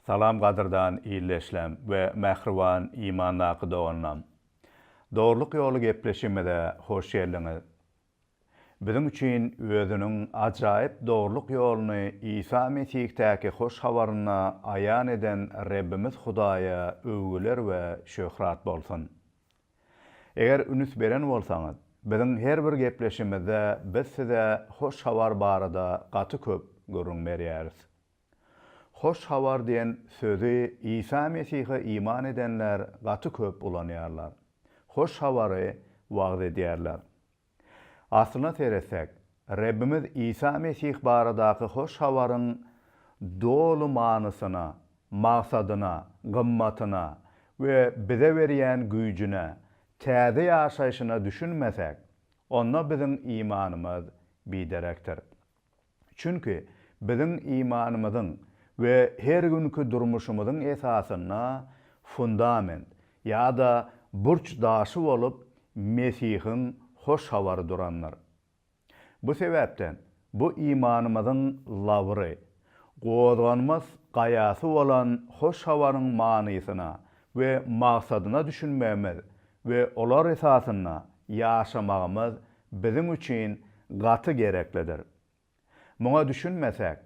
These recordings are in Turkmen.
Salam gadyrdan ildeşlem we mähriban imandaky doganlam. Dogrylyk ýoly gepleşigimize hoş geldiňiz. Biziň üçin özüniň ajaýyp dogrulyk ýoluny Isa Mesihdaky hoş habarynda aýan eden Rebbimiz Hudaýa öwgüler we şöhrat bolsun. Eger ünüs beren bolsaňyz, biziň her bir gepleşimizde biz size hoş habar barada gaty köp gürrüň berýäris. Hoş habar diýen sözi Isa Mesihe iman edenler gaty köp ulanýarlar. Hoş habary wagyz edýärler. Aslyna seretsek, Rebbimiz Isa Mesih baradaky hoş habaryň doly manysyna, maksadyna, gymmatyna we bize berýän güýjüne, täze ýaşaýşyna düşünmesäk, onda biziň imanymyz biderekdir. Çünki biziň imanymyzyň we her günki durmuşymyzyň esasynda fundament ýa-da burç daşy bolup Mesihiň Hoş Habary durandyr. Bu sebäpden bu imanymyzyň lawry, gozganmas gaýasy bolan Hoş Habaryň manysyna we maksadyna düşünmegimiz we olar esasynda ýaşamagymyz biziň üçin gaty gereklidir. Muňa düşünmesäk,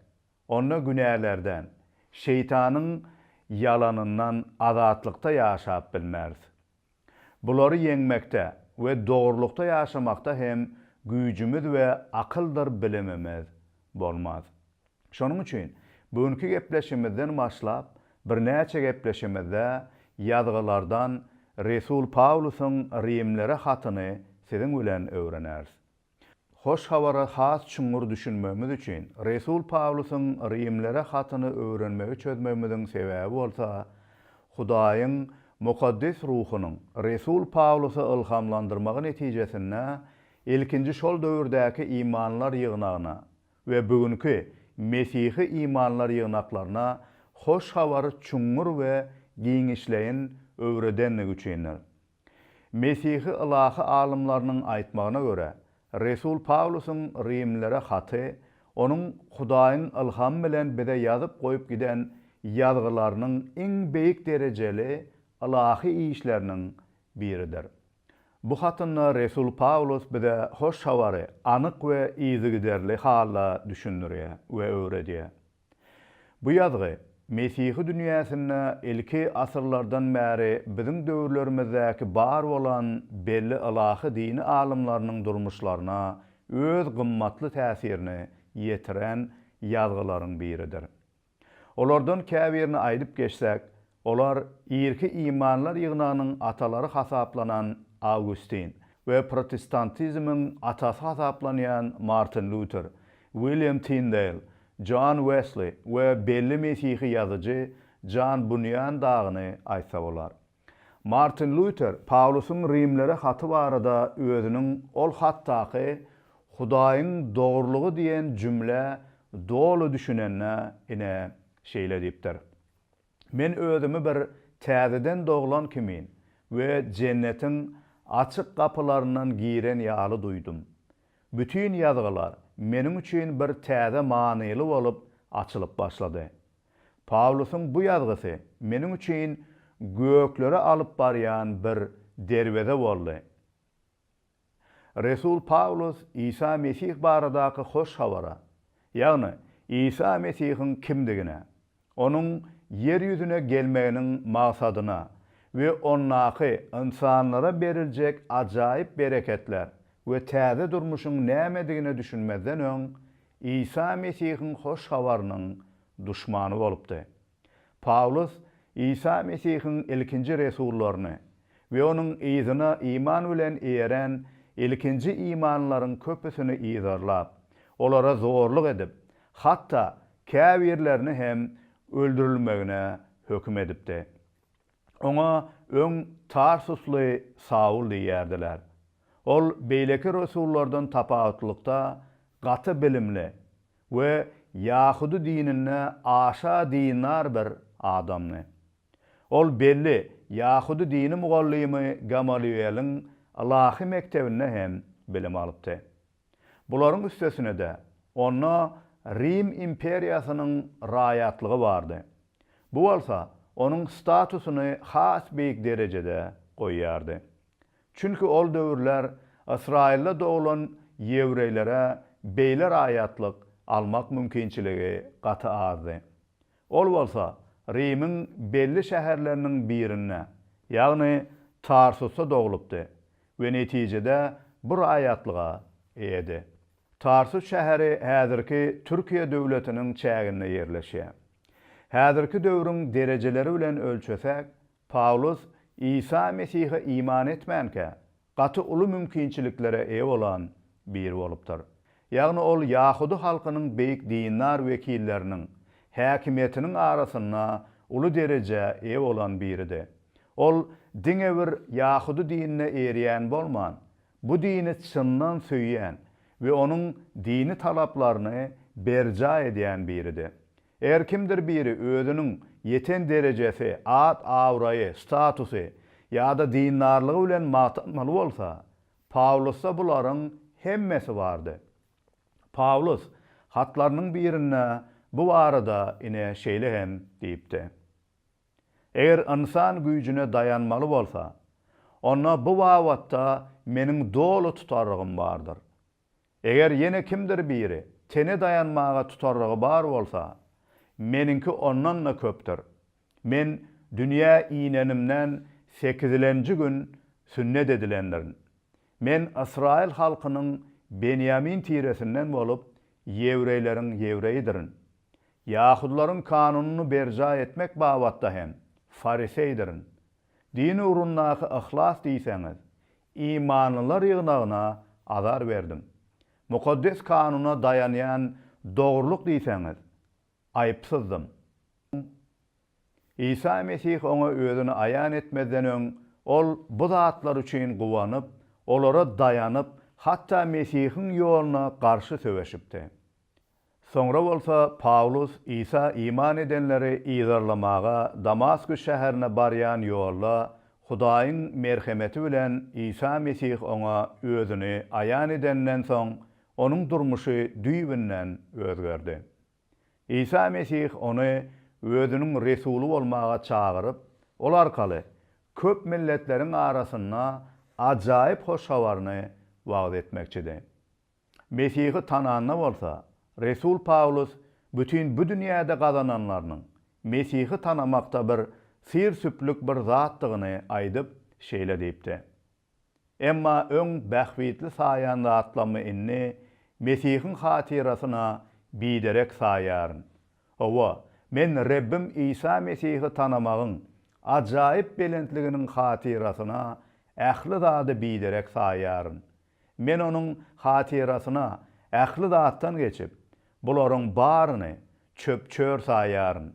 onda günälerden, Şeýtanyň ýalanyndan azatlykda ýaşap bilmeris. Bulary ýeňmekde we dogrulykda ýaşamakda hem güýjümiz we akyldyr bilimimiz bolmaz. Şonuň üçin bu günki gepleşimizden başlap, birnäçe gepleşimizde Ýazgylardan resul Pawlusyň Rimlere hatyny siziň bilen öwreneris. Hoş Habara has çuňňur düşünmegimiz üçin, resul Pawlusyň Rimlere hatyny öwrenmegi çözmegimiziň sebäbi bolsa, Hudaýyň mukaddes ruhunyň resul Pawlusy ylhamlandyrmagy netijesinde ilkinji şol döwürdäki imanlar ýygnagyna we bu günki Mesihi imanlar ýygnaklaryna Hoş Habary çuňňur we giňişleýin öwredendigi üçindir. Mesihi ylahy alymlarynyň aýtmagyna görä, resul Pawlusyň Rimlilere haty onuň Hudaýyň ylhamy bilen bize ýazyp goýup giden Ýazgylarynyň iň beýik derejeli ylahy işleriniň biridir. Bu hatynda resul Pawlus bize hoş habary anyk we yzygiderli halda düşündirýär we öwredýär. Bu ýazgy Mesihi dünýäsinde ilki asyrlardan bäri biziň döwürlerimizdäki bar bolan belli ylahy dini alymlarynyň durmuşlaryna öz gymmatly täsirini ýetiren ýazgylaryň biridir. Olardan käbirini aýdyp geçsek, olar irki imanlar ýygnagynyň atalary hasaplanan Awgustin we protestantizmiň atasy hasaplanýan Martin Lüter, William Tindeýl, Jon Wesli we belli mesihi ýazyjy Jan Bunýan dagyny aýtsa bolar. Martin Lýuter Pawlusyň Rimlere haty barada özüniň ol hatdaky Hudaýyň dogrulygy diýen jümlä doly düşünende, ine, şeýle diýipdir, Men özümi bir täzeden doglan kimin we Jennetiň açyk gapylaryndan giren ýaly duýdum. Bütin Ýazgylar meniň üçin bir täze manyly bolup açylyp başlady. Pawlusyň bu ýazgysy meniň üçin göklere alyp barýan bir derweze boldy. Resul Pawlus Isa Mesih baradaky hoş habara, ýagny Isa Mesihiň kimdigine, onuň ýer ýüzüne gelmeginiň maksadyna we ondaky ynsanlara beriljek ajaýyp bereketler we täze durmuşyň nämedigine düşünmezden öň Isa Mesihiň hoş habarynyň duşmany bolupdy. Pawlus Isa Mesihiň ilkinji resullaryny we onuň yzyna iman bilen erän ilkinji imanlylaryň köpüsini yzarlap, olara zorluk edip, hatda käbirlerini hem öldürilmegine höküm edipdi. Oňa öň tarsusly Saul diýýärdiler. Ol beýleki resullardan tapawutlylykda gaty bilimli we ýahudy dininde aşa dindar bir adamdy. Ol belli ýahudy dini mugallymy Gamalýueliň ylahy mekdebinde hem bilim alypdy. Bularyň üstesine-de, onda Rim imperiýasynyň raýatlygy bardy. Bu bolsa onuň statusyny has beýik derejede goýýardy. Çünki ol döwürler Ysraýylda doglan ýewreýlere beýle raýatlyk almak mümkinçiligi gaty azdy. Ol bolsa Rimiň belli şäherleriniň birinde, ýagny Tarsusda doglupdy we netijede bu raýatlyga eýedi. Tarsus şäheri häzirki Türkiýe döwletiniň çäginde ýerleşýär. Häzirki döwrüň derejeleri bilen ölçesek, Pawlus Isa Mesihe iman etmänkä, gaty uly mümkinçiliklere eýe bolan biri bolupdyr. Ýagny ol ýahudy halkynyň beýik dindar wekilleriniň, häkimiýetiniň arasynda uly derejä eýe bolan biridi. Ol diňe bir ýahudy dinine erýän bolman, bu dini çyndan söýýän we onuň dini talaplaryny berjaý edýän biridi. Her kimdir biri özüniň ýeten derejesi, at-abraýy, statusy ýa-da dindarlygy bilen magtanmaly bolsa, Pawlusda bularyň hemmesi bardy. Pawlus hatlarynyň birinde bu barada ine şeýle hem diýipdi, Eger ynsan güýjüne daýanmaly bolsa, onda bu babatda meniň doly tutarlygym bardyr. Eger ýene kimdir biri tene daýanmaga tutarlygy bar bolsa, meniňki ondan-da köpdür. Men dünýä inenimden sekizilenji gün sünnet edilendirin. Men ysraýyl halkynyň benýamin tiresinden bolup, ýewreýleriň ýewreýidirin. Ýahudylaryň kanunyny berjaý etmek babatda hem fariseýdirin. Din ugrundaky yhlas diýseňiz, Imanlylar ýygnagyna azar berdim. Mukaddes Kanuna daýanýan dogrulyk diýseňiz, aýypsyzdym. Isa Mesih oňa özüni aýan etmezden öň, ol bu zatlar üçin guwanyp, olara daýanyp, hatda Mesihiň ýoluna garşy söweşipdi. Soňra bolsa Pawlus Isa iman edenleri yzarlamaga Damasküs şäherine barýan ýolda Hudaýyň merhemeti bilen Isa Mesih oňa özüni aýan edeninden soň onuň durmuşy düýbünden özgerdi. Isa Mesih ony özüniň resuly bolmaga çagyryp, ol arkaly köp milletleriň arasynda ajaýyp hoş habaryny wagyz etmekçidi. Mesihi tananda bolsa, resul Pawlus bütin bu dünýäde gazananlarynyň Mesihi tanamakda bir syr-süplük bir zatdygyny aýdyp, şeýle diýipdi, Emma öň bähbitli saýan zatlarymy indi Mesihiň hatyrasyna biderek saýaryn. Hawa, men Rebbim Isa Mesihi tanamagyň ajaýyp belentliginiň hatyrasyna ähli zady biderek saýaryn. Men onuň hatyrasyna ähli zatdan geçip, bularyň baryny çöp-çör saýýaryn.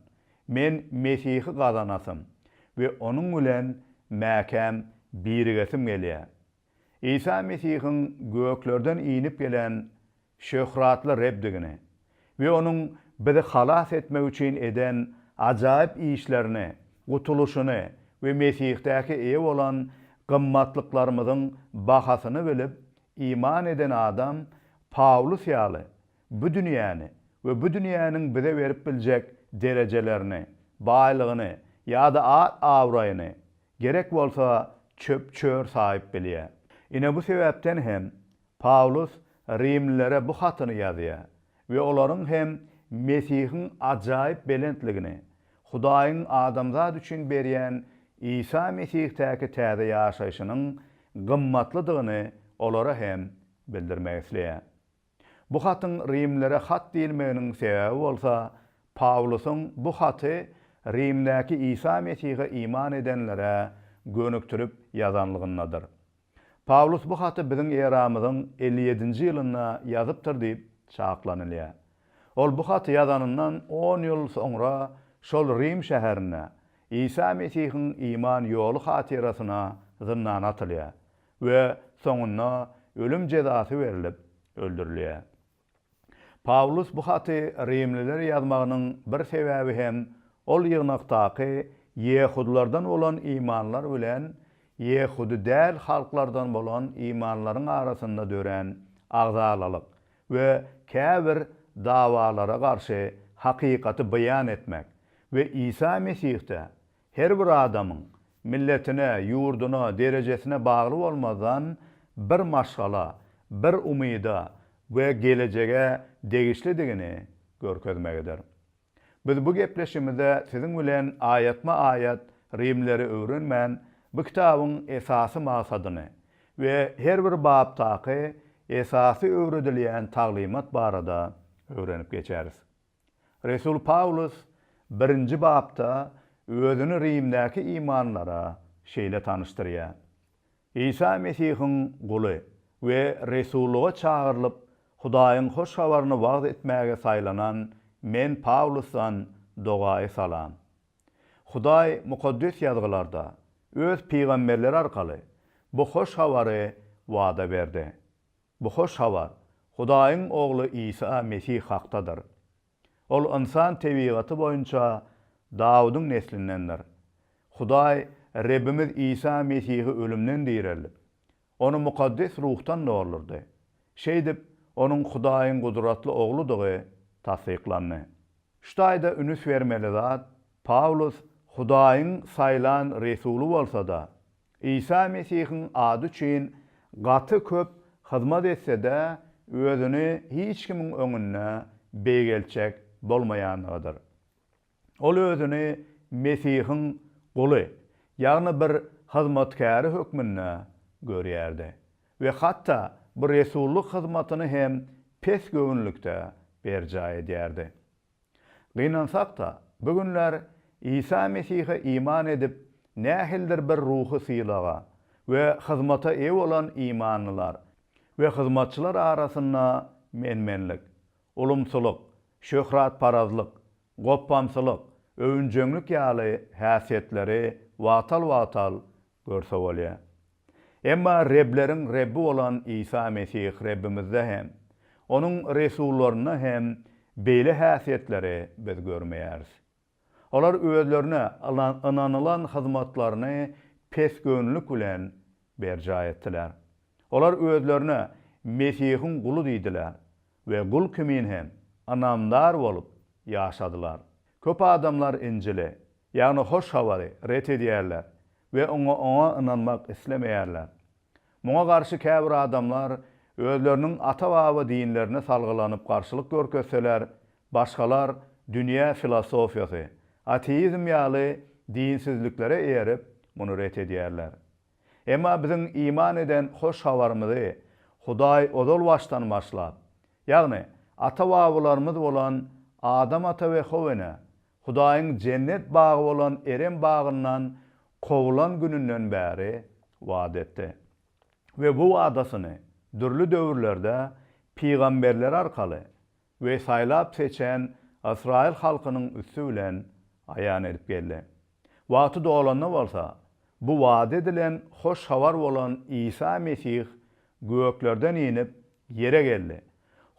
Men Mesihi gazanasym we onuň bilen mäkäm birigesim gelýär. Isa Mesihiň göklerden inip gelen şöhratly Rebdigini we Onuň bizi halas etmek üçin eden ajaýyp işlerini, gutulyşyny we Mesihdäki eýe bolan gymmatlyklarymyzyň bahasyny bilip, iman eden adam Pawlus ýaly bu dünýäni we bu dünýäniň bize berip biljek derejelerini, baýlygyny ýa-da at-abraýyny, gerek bolsa, çöp-çör saýyp bilýär. Ine, bu sebäpden hem Pawlus rimlilere bu hatyny ýazýar we olaryň hem Mesihiň ajaýyp belentligini, Hudaýyň adamzat üçin berýän Isa Mesihdaky täze ýaşaýşynyň gymmatlydygyny olara hem bildirmek isleýär. Bu hatyň rimlilere hat diýilmeginiň sebäbi bolsa, Pawlusyň bu haty Rimdäki Isa Mesihe iman edenlere gönükdirip ýazanlygyndadyr. Pawlus bu haty biziň eramyzyň elli ýedinji ýylynda ýazypdyr diýip çaklanylýar. Ol bu haty ýazanyndan on ýyl soňra şol Rim şäherinde Isa Mesihiň iman ýoly hatyrasyna zyndana atylýar we soňunda ölüm jezasy berlip öldürilýär. Pawlus bu haty rimlilere ýazmagynyň bir sebäbi hem ol ýygnakdaky ýehudylardan bolan imanlar bilen ýehudy däl halklardan bolan imanlaryň arasynda dörän agzalalyk we käbir dawalara garşy hakykaty beýan etmek we Isa Mesihde Her bir adamyň, milletine, ýurduna, derejesine bagly bolmazdan, bir maşgala, bir umyda we gelejege degişlidigini görkezmegidir. Biz bu gepleşigimizde siziň bilen aýatma-aýat Rimleri öwrenmän, bu kitabyň esasy maksadyny we her bir bapdaky esasy öwredilýän taglymat barada öwrenip geçeris. Resul Pawlus birinji bapda özüni Rimdäki imanlara şeýle tanyşdyrýar, Isa Mesihiň guly we resullyga çagyrylyp, Hudaýyň hoş habaryny wagyz etmäge saýlanan men Pawlusdan dogaýy salam. Hudaý Mukaddes Ýazgylarda, öz pygamberleri arkaly, bu hoş habary wada berdi. Bu hoş habar Hudaýyň Ogly Isa Mesih hakdadyr. Ol ynsan tebigaty boýunça Dawudyň neslindendir. Hudaý Rebbimiz Isa Mesihi ölümden direldip, Ony mukaddes ruhdan doldurdy. Şeýdip, Onuň Hudaýyň gudratly Ogludygy tassyklandy. Şu taýda ünüs bermeli zat, Pawlus Hudaýyň saýlan resuly bolsa-da, Isa Mesihiň ady üçin gaty köp hyzmat etse-de, özüni hiç kimiň öňünde beýgeltjek bolmaýandygydyr. Ol özüni Mesihiň guly, ýagny bir hyzmatkäri hökmünde görýärdi we hatda bu resullyk hyzmatyny hem pes göwünlikde berjaý edýärdi. Gynansak-da, bu günler Isa Mesihe iman edip, nähilidir bir ruhy sylaga we hyzmata eýe bolan imanlylar we hyzmatçylar arasynda men-menlik, ulumsylyk, şöhratparazlyk, gopbamsylyk, öwünjeňlik ýaly häsiýetleri wagtal-wagtal Görse bolýar. Emma rebleriň Rebbi bolan Isa Mesih Rebbimizde hem, Onuň resullarynda hem beýle häsiýetleri biz görmeýäris. Olar özlerine ynanylan hyzmatlaryny pesgöwünlilik bilen berjaý etdiler. Olar özlerine Mesihiň guly diýdiler we gul kimin hem ynamdar bolup ýaşadylar. Köp adamlar Injili ýagny hoş habary, ret edýärler we oňa oňa ynanmak islemeýärler. Muňa garşy käbir adamlar özleriniň ata-baba dinlerine salgylanyp garşylyk görkezseler, başgalar dünýä filosofiýasy, ateizm ýaly dinsizliklere eýerip, muny ret edýärler. Emma biziň iman eden hoş habarymyzy Hudaý ozal başdan başlap, ýagny ata-babalarymyz bolan Adam ata we How ene, Hudaýyň jennet bagy bolan Erem bagyndan kowulan gününden bäri wada etdi. We bu wadasyny dürli döwürlerde pygamberler arkaly we saýlap seçen ysraýyl halkynyň üsti bilen aýan edip geldi. Wagty dolanda bolsa, bu wada edilen hoş habar bolan Isa Mesih göklerden inip, ýere geldi,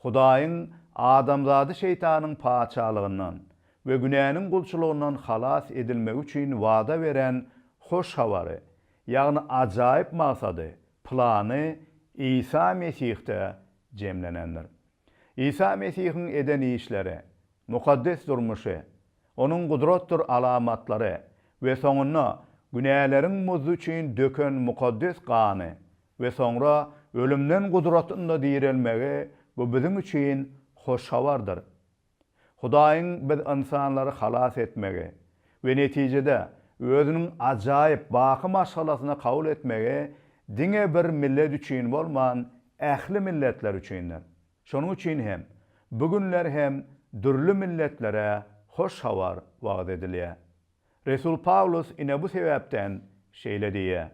Hudaýyň adamzady Şeýtanyň patyşalygyndan we günäniň gulçulygyndan halas edilmegi üçin wada beren hoş habary, ýagny ajaýyp maksady, plany Isa Mesihde jemlenendir. Isa Mesihiň eden işleri, mukaddes durmuşy, Onuň gudratdyr alamatlary we soňunda günäleriň muzdy üçin döken mukaddes gany we soňra ölümden gudratynda direlmegi bu biziň üçin hoş habardyr. Hudaýyň biz ynsanlary halas etmegi we netijede Özüniň ajaýyp baky maşgalasyna kabul etmegi diňe bir millet üçin bolman, ähli milletler üçindir. Şonuň üçin hem, bu günler hem dürli milletlere hoş habar wagyz edilýär. Resul Pawlus ine bu sebäpden şeýle diýýär,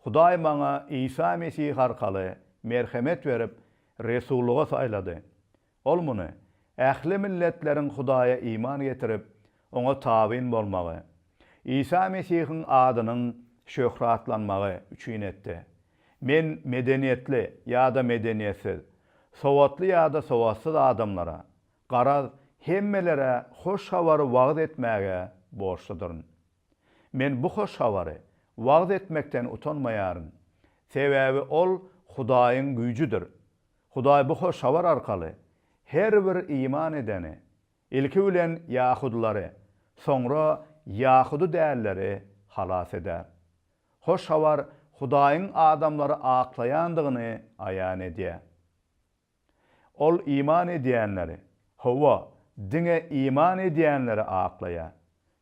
Hudaý maňa Isa Mesih arkaly merhemet berip, resullyga saýlady. Ol muny, ähli milletleriň Hudaýa iman getirip, Oňa tabyn bolmagy, Isa Mesihiň adynyň şöhratlanmagy üçin etdi. Men medeniýetli ýa-da medeniýetsiz, sowatly ýa-da sowatsyz adamlara, garaz, hemmelere hoş habary wagyz etmäge borçludyryn. Men bu hoş habary wagyz etmekden utanmaýaryn, sebäbi ol Hudaýyň güýjüdir. Hudaý bu hoş habar arkaly her bir iman edeni, ilki bilen ýahudylary, soňra ýahudy dälleri halas eder. Hoş habar Hudaýyň adamlary aklaýandygyny aýan edýär. Ol iman edýänleri, hawa, diňe iman edýänleri aklaýar.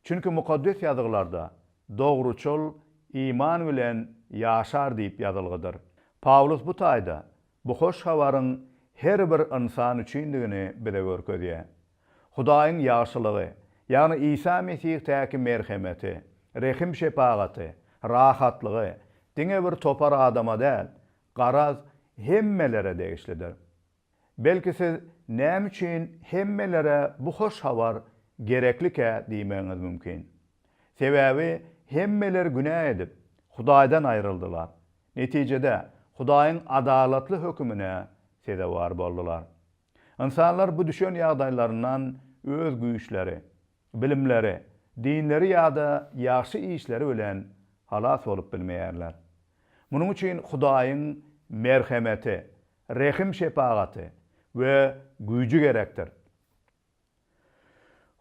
Çünki Mukaddes Ýazgylarda, Dogruçyl iman bilen ýaşar diýip ýazylgydyr. Pawlus bu taýda bu hoş habaryň her bir ynsan üçindigini bize görkezýär. Hudaýyň ýagşylygy, ýagny Isa Mesihdaky merhemeti, rehim-şepagaty, rahatlygy diňe bir topar adama däl, Garaz, hemmelere degişlidir. Belki siz näme üçin hemmelere bu hoş habar gereklikä diýmegiňiz mümkin. Sebäbi hemmeler günä edip, Hudaýdan aýryldylar. Netijede, Hudaýyň adalatly hökümine sezewar boldular. Ynsanlar bu düşen ýagdaýlaryndan öz güýçleri, bilimleri, dinleri ýa-da ýagşy işleri bilen halas bolup bilmeýärler. Munuň üçin Hudaýyň merhemeti, rehim-şepagaty we güýji gerekdir.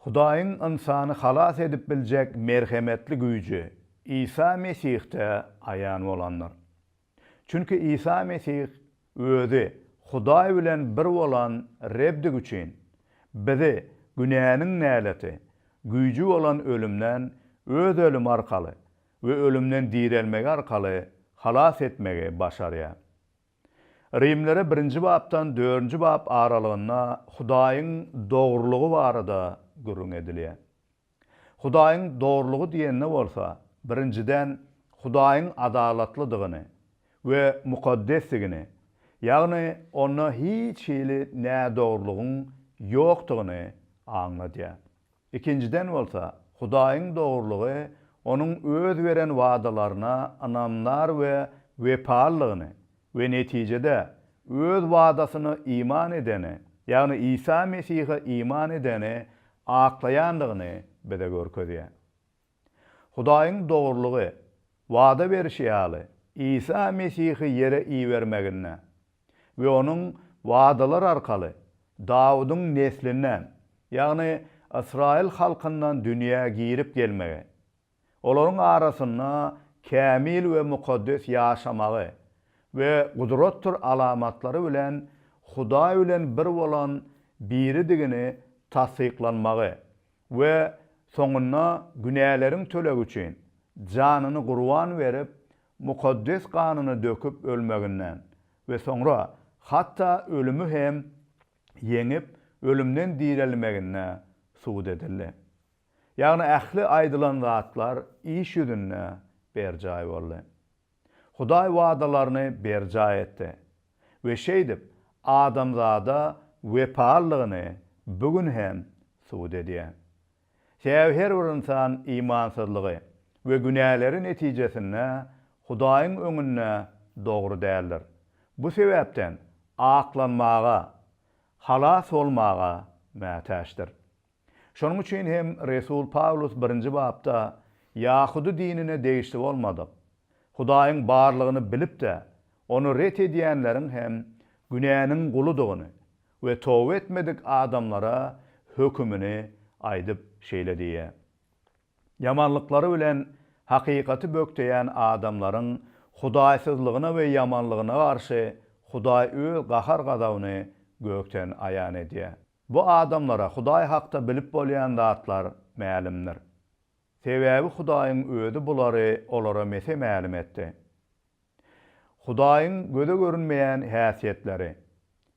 Hudaýyň ynsany halas edip biljek merhemetli güýji Isa Mesihde aýan bolandyr. Çünki Isa Mesih Özi Hudaý bilen bir bolan Rebdigi üçin, bizi günäniň näleti, güýji bolan ölümden Öz ölümi arkaly we ölümden direlmegi arkaly halas etmegi başarýar. Rimlere birinji bapdan dördünji bap aralygynda Hudaýyň dogrulygy barada gürrüň edilýär. Hudaýyň dogrulygy diýende bolsa, birinjiden, Hudaýyň adalatlydygyny we mukaddesdigini, ýagny Onda hiç hili nädogrulygyň ýokdugyny aňladýar. Ikinjiden bolsa, Hudaýyň dogrulygy Onuň öz beren wadalaryna ynamdar we wepalydygyny, we netijede Öz wadasyna iman edeni, ýagny Isa Mesihe iman edeni aklaýandygyny bize görkezýär. Hudaýyň dogrulygy, wada berşi ýaly, Isa Mesihi ýere ibermeginde we Onuň wadalar arkaly Dawudyň neslinden, ýagny ysraýyl halkyndan dünýä girip gelmegi, Olaryň arasynda kämil we mukaddes ýaşamagy we gudratdyr alamatlary bilen Hudaý bilen bir bolan Biridigini tassyklanmagy we soňunda günäleriň tölegi üçin janyny gurban berip, mukaddes ganyny döküp ölmeginden we soňra hatda ölümi hem ýeňip, ölümden direlmeginde subut edildi. Ýagny ähli aýdylan zatlar iş ýüzünde berjaý boldy. Hudaý wadalaryny berjaý etdi we şeýdip adamzada wepalydygyny bu gün hem subut edýär. Sebäbi her bir ynsan imansyzlygy we günäleri netijesinde Hudaýyň öňünde dogry däldir. Bu sebäpden aklanmaga, halas bolmaga mätäçdir. Şonuň üçin hem resul Pawlus birinji bapda ýahudy dinine degişli bolmadyk, Hudaýyň barlygyny bilip-de, ony ret edýänleriň hem günäniň guludygyny we toba etmedik adamlara hökümini aýdyp şeýle diýýär, Ýamanlyklary bilen hakykaty bökdeýän adamlaryň hudaýsyzlygyna we ýamanlygyna garşy Hudaý öz gahar-gazabyny gökden aýan edýär. Bu adamlara Hudaý hakda bilip bolýan zatlar mälimdir. Sebäbi Hudaýyň Özi bulary olara mese mälim etdi. Hudaýyň göze görünmeýän häsiýetleri,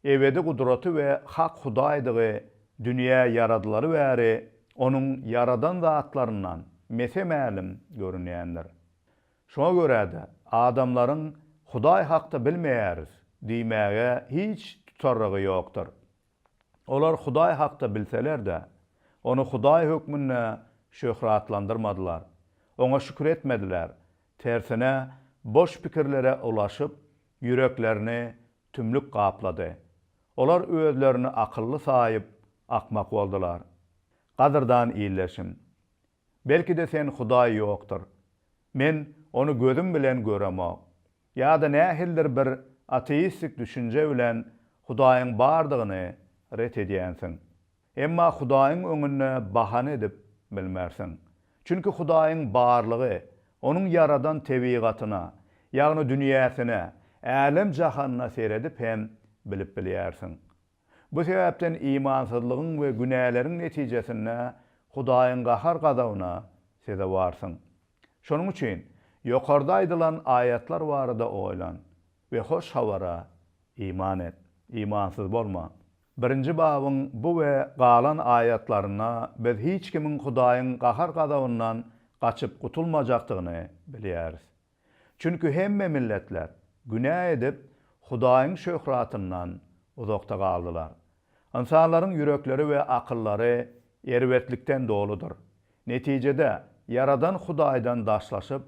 ebedi gudraty we hak Hudaýdygy dünýä ýaradylaly bäri Onuň ýaradan zatlaryndan mese mälim görünýändir. Şuňa görä-de, adamlaryň Hudaý hakda bilmeýäris diýmäge hiç tutarrygy ýokdur. Olar Hudaý hakda bilseler-de, Ony Hudaý hökmünde şöhratlandyrmadylar, Oňa şükür etmediler, tersine, boş pikirlere ulaşyp, ýüreklerini tümlük gaplady. Olar özlerini akylly saýyp, akmak boldular. Gadyrdan ildeşim! Belki-de sen Hudaý ýokdur. Men ony gözüm bilen göremok. Ýa-da nähilidir bir ateistik düşünje bilen Hudaýyň bardygyny ret edýänsiň. Emma Hudaýyň öňünde bahana edip bilmersiň. Çünki Hudaýyň barlygy Onuň ýaradan tebigatyna, ýagny dünýäsine, älem-jahanyna seredip hem bilip bilýärsiň. Bu sebäpden imansyzlygyň we günäleriň netijesinde Hudaýyň gahar-gazabyna sezewarsyň. Şonuň üçin ýokarda aýdylan aýatlar barada oýlan we Hoş Habara iman et. Imansyz bolma. Birinji babyň bu we galan aýatlarynda biz hiç kimiň Hudaýyň gahar-gazabyndan gaçyp gutulmajakdygyny bilýäris. Çünki hemme milletler günä edip, Hudaýyň şöhratyndan uzakda galdylar. Ynsanlaryň ýürekleri we akyllary erbetlikden doludyr. Netijede, Ýaradan Hudaýdan daşlaşyp,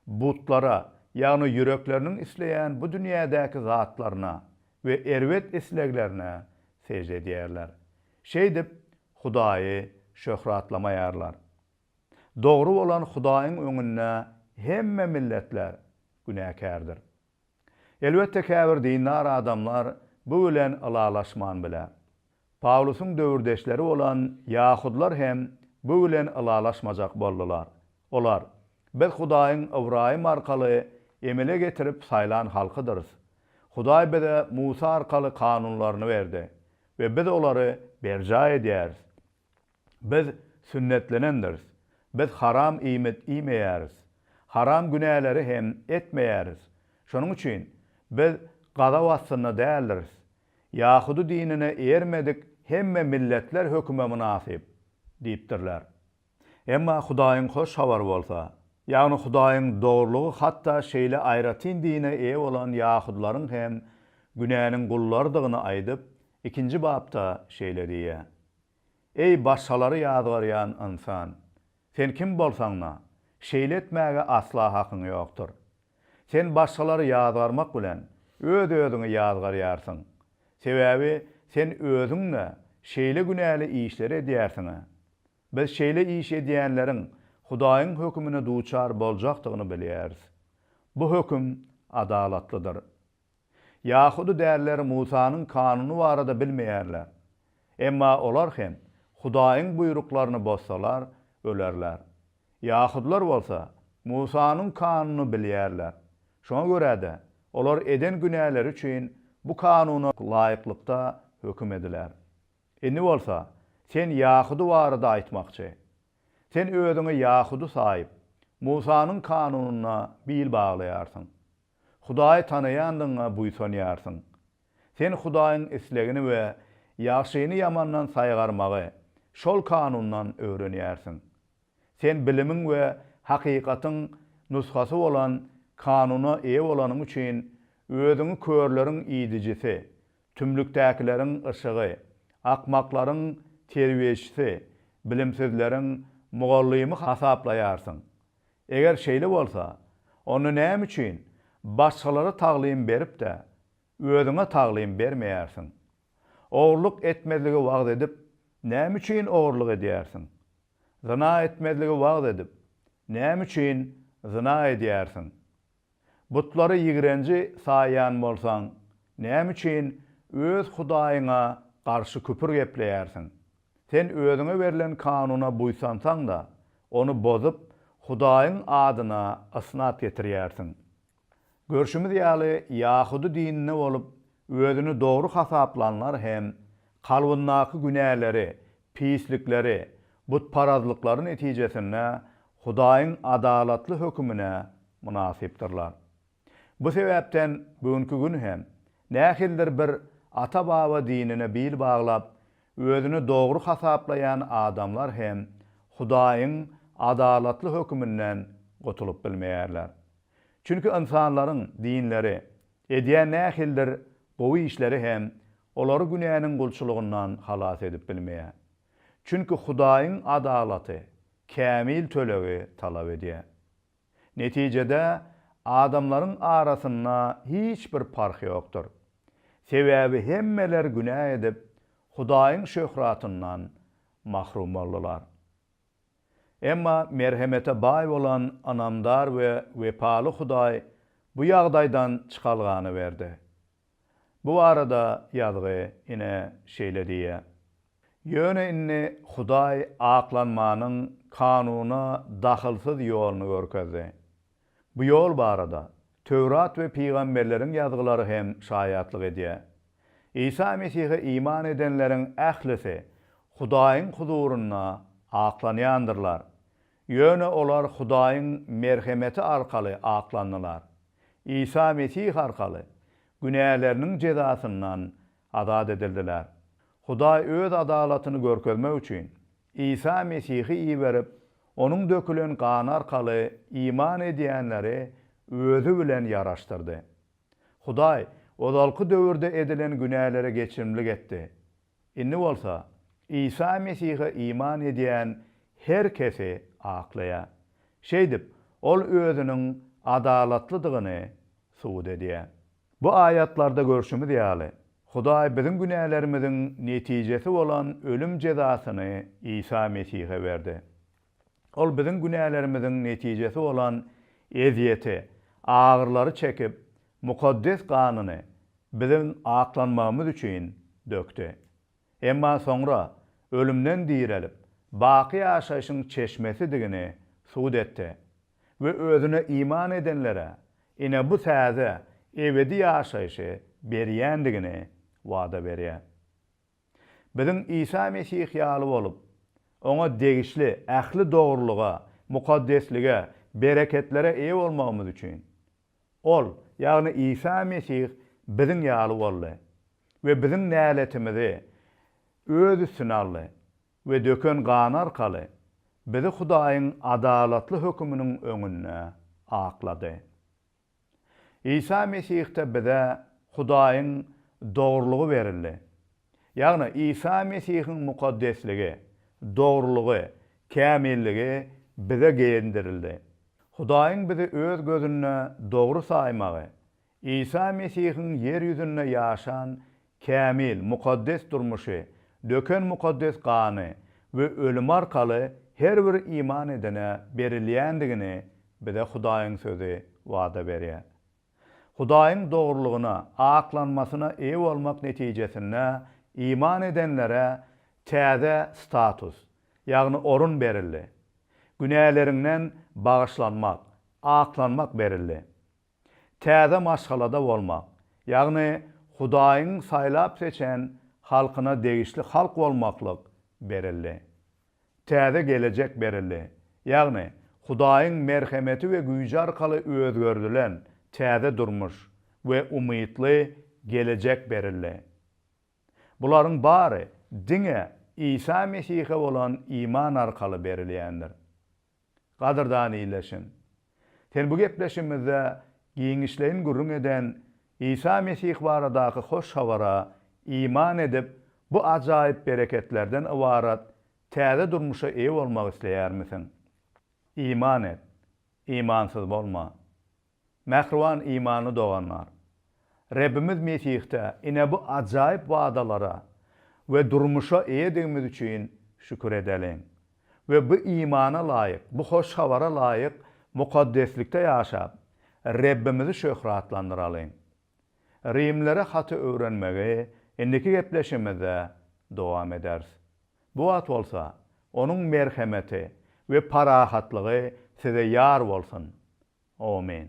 butlara, ýagny ýürekleriniň isleýän bu dünýädäki zatlaryna we erbet isleglerine sežde edýärler. Şeýdip, Hudaýy şöhratlamaýarlar. Dogry bolan Hudaýyň öňünde hemme milletler günäkärdir. Elbetde käbir dindar adamlar bu bilen ylalaşman biler. Pawlusyň döwürdeşleri bolan ýahudylar hem bu bilen ylalaşmajak boldular. Olar, Biz Hudaýyň Ybraýym arkaly emele getirip saýlan halkydyrys. Hudaý bize Musa arkaly kanunlaryny berdi we biz olary berjaý edýäris. Biz sünnetlenendiris. Biz haram iýmit iýmeýäris. Haram günäleri hem etmeýäris. Şonuň üçin biz gazap astynda däldiris. Ýahudy dinine ermedik hemme milletler höküme mynasyp diýipdirler. Emma Hudaýyň Hoş Habary bolsa, ýagny Hudaýyň dogrulygy hatda şeýle aýratyn dine eýe bolan ýahudylaryň hem günäniň gullarydygyny aýdyp, ikinji bapda şeýle diýýär. Eý, başgalary ýazgarýan ynsan! Sen kim bolsaň-da, şeýle etmäge asla hakyň ýokdur. Sen başgalary ýazgarmak bilen öz-özüňi ýazgarýarsyň. Sebäbi sen özüň-de şeýle günäli işleri edýärsiň-ä. Biz şeýle iş edýänleriň Hudaýyň hökümine duçar boljakdygyny bilýäris. Bu höküm adalatlydyr. Ýahudy dälileri Musanyň kanuny barada bilmeýärler. Emma olar hem Hudaýyň buýruklaryny bozsalar, ölerler. Ýahudylar bolsa Musanyň kanunyny bilýärler. Şoňa görä-de, olar eden günäleri üçin bu kanuna laýyklykda höküm ediler. Indi bolsa, sen ýahudy barada aýtmakçy. Sen özüňi ýahudy saýyp, Musanyň kanunyna bil baglaýarsyň. Hudaýy tanaýandygyňa buýsanýarsyň. Sen Hudaýyň islegini we ýagşyny ýamandan saýgarmagy şol kanundan öwrenýärsiň. Sen bilimiň we hakykatyň nusgasy bolan kanuna eýe bolanyň üçin özüňi körleriň idijisi, tümlükdäkileriň yşygy, akmaklaryň terbiýeçisi, bilimsizleriň mugallymy hasaplaýarsyň. Eger şeýle bolsa, onda näme üçin başgalara taglym berip-de, özüňe taglym bermeýärsiň? Ogurlyk etmezligi wagyz edip, näme üçin ogurlyk edýärsiň? Zyna etmezligi wagyz edip, näme üçin zyna edýärsiň? Butlary ýigrenji saýýan bolsaň, näme üçin öz Hudaýyňa garşy küpür gepleýärsiň? Sen özüňe berlen kanuna buýsansaň-da, ony bozup, Hudaýyň adyna ysnat getirýärsiň. Görşümiz ýaly, ýahudy dininde bolup, özüni dogry hasaplanlar hem kalbyndaky günäleri Pislikleri, butparazlyklary netijesinde Hudaýyň adalatly hökümine mynasypdyrlar. Bu sebäpden bugünki gün hem, nähilidir bir ata-baba dinine bil baglap, özüni dogry hasaplaýan adamlar hem Hudaýyň adalatly höküminden gutulyp bilmeýärler. Çünki ynsanlaryň dinleri Edýän nähilidir gowy işleri hem olary günäniň gulçulygyndan halas edip bilmeýär. Çünki Hudaýyň adalaty kämil tölegi talap edýär. Netijede, adamlaryň arasynda hiç bir parh ýokdur. Sebäbi hemmeler günä edip, Hudaýyň şöhratyndan mahrum boldular. Emma merhemete baý bolan ynamdar we wepaly Hudaý bu ýagdaýdan çykalgany berdi. Bu barada ýazgy ine şeýle diýýär, Ýöne indi Hudaý aklanmanyň kanuna dahylsyz ýoluny görkezdi. Bu ýol barada Töwrat we pygamberleriň ýazgylary hem şaýatlyk edýär. Isa Mesihe iman edenleriň ählisi Hudaýyň huzurynda aklanýandyrlar. Ýöne olar Hudaýyň merhemeti arkaly aklandylar. Isa Mesih arkaly günäleriniň jezasyndan azat edildiler. Hudaý öz adalatyny görkezmek üçin Isa Mesihi iberip, Onuň dökülen gany arkaly iman edýänleri Özi bilen ýaraşdyrdy. Hudaý ozalky döwürde edilen günälere geçirimlik etdi. Indi bolsa Isa Mesihe iman edýän her kesi aklaýar. Şeýdip, Ol Özüniň adalatlydygyny subut edýär. Bu aýatlarda görşümiz ýaly, Hudaý biziň günälerimiziň netijesi bolan ölüm jezasyny Isa Mesihe berdi. Ol biziň günälerimiziň netijesi bolan ezýeti, agyrylary çekip, mukaddes ganyny biziň aklanmagymyz üçin dökdi. Emma soňra ölümden direlip, baky ýaşaýşyň çeşmesidigini subut etdi. we özüne iman edenlere ine bu täze ebedi ýaşaýşy berýändigini wada berýär. Biziň Isa Mesih ýaly bolup, Oňa degişli ähli dogrulyga, mukaddeslige, bereketlere eýe bolmagymyz üçin, Ol, ýagny Isa Mesih biziň ýaly boldy we biziň näletimizi Öz üstüne aldy. we döken gany arkaly bizi Hudaýyň adalatly höküminiň öňünde aklady. Isa Mesihde bize Hudaýyň dogrulygy berildi. Ýagny Isa Mesihiň mukaddesligi, dogrulygy, kämilligi bize geýindirildi. Hudaýyň bizi öz gözünde dogry saýmagy Isa Mesihiň ýer ýüzünde ýaşan kämil, mukaddes durmuşy, döken mukaddes gany we ölümi arkaly her bir iman edene berilýändigini bize Hudaýyň Sözi wada berýär. Hudaýyň dogrulygyna, aklanmasyna eýe bolmak netijesinde iman edenlere täze status, ýagny orun berildi. Günäleriňden bagyşlanmak, aklanmak berildi. Täze maşgalada bolmak, ýagny Hudaýyň saýlap seçen halkyna degişli halk bolmaklyk berildi. Täze gelejek berildi, ýagny Hudaýyň merhemeti we güýji arkaly özgerdilen täze durmuş we umytly gelejek berildi. Bularyň bary diňe Isa Mesihe bolan iman arkaly berilýändir. Gadyrdan ildeşim! Sen bu gepleşigimizde giňişleýin gürrüň eden Isa Mesih baradaky hoş habara iman edip, bu ajaýyp bereketlerden ybarat täze durmuşa eýe bolmak isleýärmisiň? Iman et! Imansyz bolma! Mähriban imanly doganlar! Rebbimiz Mesihde ine bu ajaýyp wadalara we durmuşa eýedigimiz üçin şükür edeliň we bu imana laýyk, bu hoş habara laýyk mukaddeslikde ýaşap, Rebbimizi şöhratlandyralyň. Rimlere haty öwrenmegi indiki gepleşigimizde dowam ederis. Bu wagt bolsa Onuň merhemeti we parahatlygy size ýar bolsun. Omin.